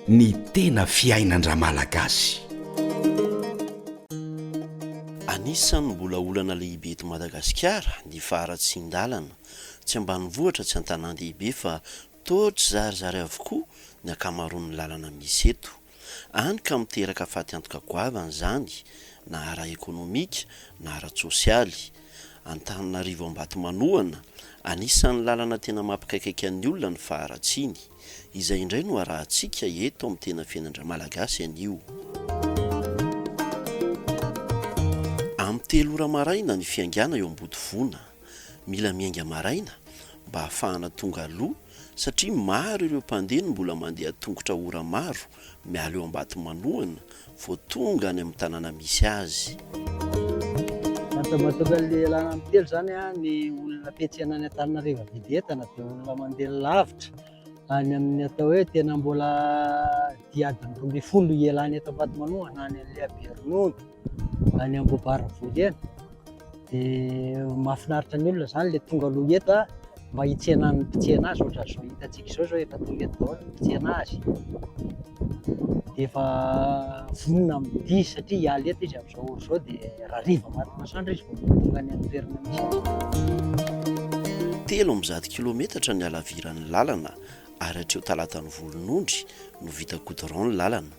Ny tena fiainan-dRamalagasy. Anisan'ny mbola olana lehibe eto Madagasikara ny faharatsian-dalana, tsy ambanivohitra tsy an-tanàn-dehibe fa toa tsy zarizary avokoa ny ankamaroan'ny lalana misy eto. Hany ka miteraka faty antoka goavana izany na ara-ekonomika na ara-tsosialy. Antananarivo Ambatomanohana, anisan'ny lalana tena mampikaikaika ny olona ny faharatsiany. Izay indray no arahantsika eto amin'ny Tena Fiainan'Dramalagasy anio. Amin'ny telo ora maraina ny fiaingàna eo Ambodivona. Mila miainga maraina mba hahafahana tonga aloha satria maro ireo mpandeha no mbola mandeha an-tongotra ora maro miala eo Ambatomanohana vao tonga any amin'ny tanàna misy azy. Miantso mahatonga ny lalana amin'ny telo izany ny olona mpiantsena any Antananarivo hividy entana dia olona mandeha lavitra any amin'ny atao hoe tena mbola dia adiny roa ambin'ny folo ialany eto Ambatomanoa na any Lehiberonono. any Ambohibaravoly eny dia mahafinaritra ny olona izany ilay tonga aloha eto a mba hitsena ny mpitsena azy ohatra izao hitantsika izao izao efa tonga eto daholo ny mpitsena azy dia efa vonona mividy izy satria hiala eto izy amin'izao ora izao dia rariva maty masoandro izy vao tonga any amin'ny toerana misy telo amby zato kilometatra ny halaviran'ny lalana ary hatreo Talatan'ny Volonondry no vita goudron ny lalana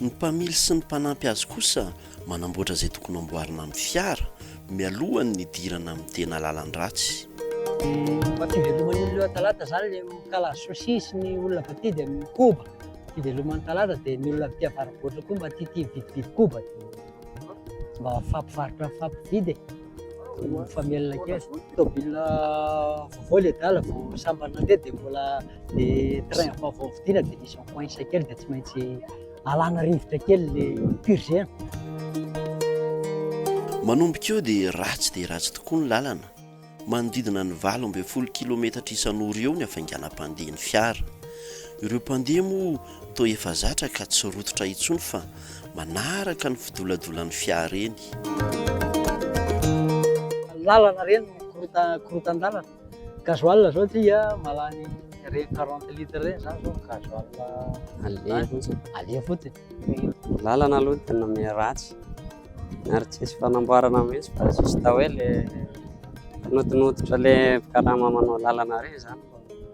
Ny mpamily sy ny mpanampy azy kosa manamboatra izay tokony hamboarina amin'ny fiara mialohan'ny nidirana amin'ny tena lalan-dratsy. Mba fiveloman'ny olona eo an-talata izany ilay mikala sushi sy ny olona avy aty dia mikoba. Fiveloman'ny talata dia ny olona avy aty avara-boatra koa mba tia tia mividividy koba dia mba mifampivarotra mifampividy e. Mifamelona kely. Tômôbila vaovao le adala vao sambany nandeha dia mbola le train vaovao vidiana dia misy coince kely dia tsy maintsy alana rivotra kely le purger. Manomboka eo dia ratsy dia ratsy tokoa ny lalana. Manodidina ny valo ambin'ny folo kilometatra isan'ora eo ny hafainganam-pandehan'ny fiara. Ireo mpandeha moa Toa efa zatra ka tsy rototra intsony fa manaraka ny fidoladolan'ny fiara eny. Lalana ireny no korotan-dalana. Gasoil izao dia mahalany ireny quarante litres ireny izany izao ny gasoil aleha fotsiny. Aleha fotsiny. Ny lalana aloha dia nomena ratsy ary tsisy fanamboarana mihitsy fa juste hoe ilay fanodinodotra ilay mpikarama manao lalana ireny izany.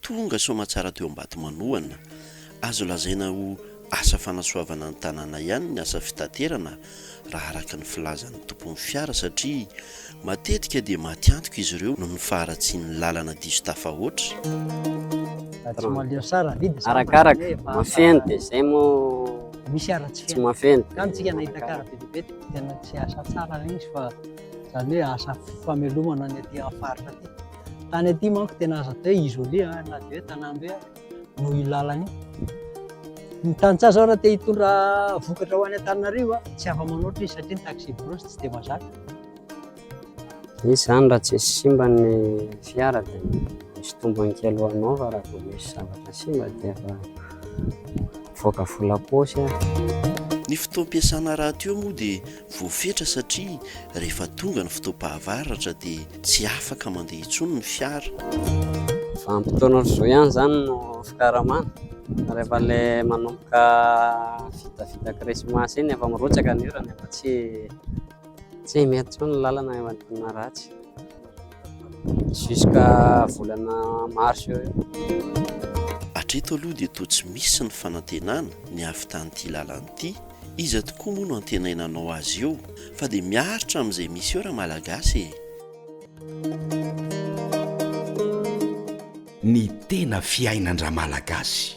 Tonga soamatsara teo Ambatomanohana. Azo lazaina ho asa fanasoavana ny tanàna ihany ny asa fitaterana raha araka ny filazan'ny tompon'ny fiara satria matetika dia maty antoka izy ireo noho ny faharatsian'ny lalana diso tafahoatra. Arakaraka, mahafeno dia izay moa tsy mahafeno dia. Tany aty manko tena aza atao hoe isolé na dia hoe tanàmbe ary noho io lalana io. Ny tantsaha raha te hitondra vokatra ho any Antananarivo tsy afa-manoatra izy satria ny taxi brousse tsy dia mazaka. Izy izany raha tsy simba ny fiara dia misy tombony kely ho anao fa raha vao misy zavatra simba dia efa mivoaka volam-paosy ary. Ny fotoam-piasana rahateo moa dia Voafetra satria rehefa tonga ny fotoam-pahavaratra dia tsy afaka mandeha intsony ny fiara. Vanim-potoana rozoy ihany izany no fikaramana. Rehefa ilay manomboka vitavita krismasy iny efa mirotsaka ny orana, efa tsy tsy mety intsony ny lalana, efa diniha ratsy. Jusqu'à volana mars eo eo. Hatreto aloha dia toa tsy misy ny fanantenana ny hahavitan' ity lalana ity, iza tokoa moa no antenaina hanao azy eo? Fa dia miaritra amin' izay misy eo ra malagasy e! Ny tena fiainan-dramalagasy.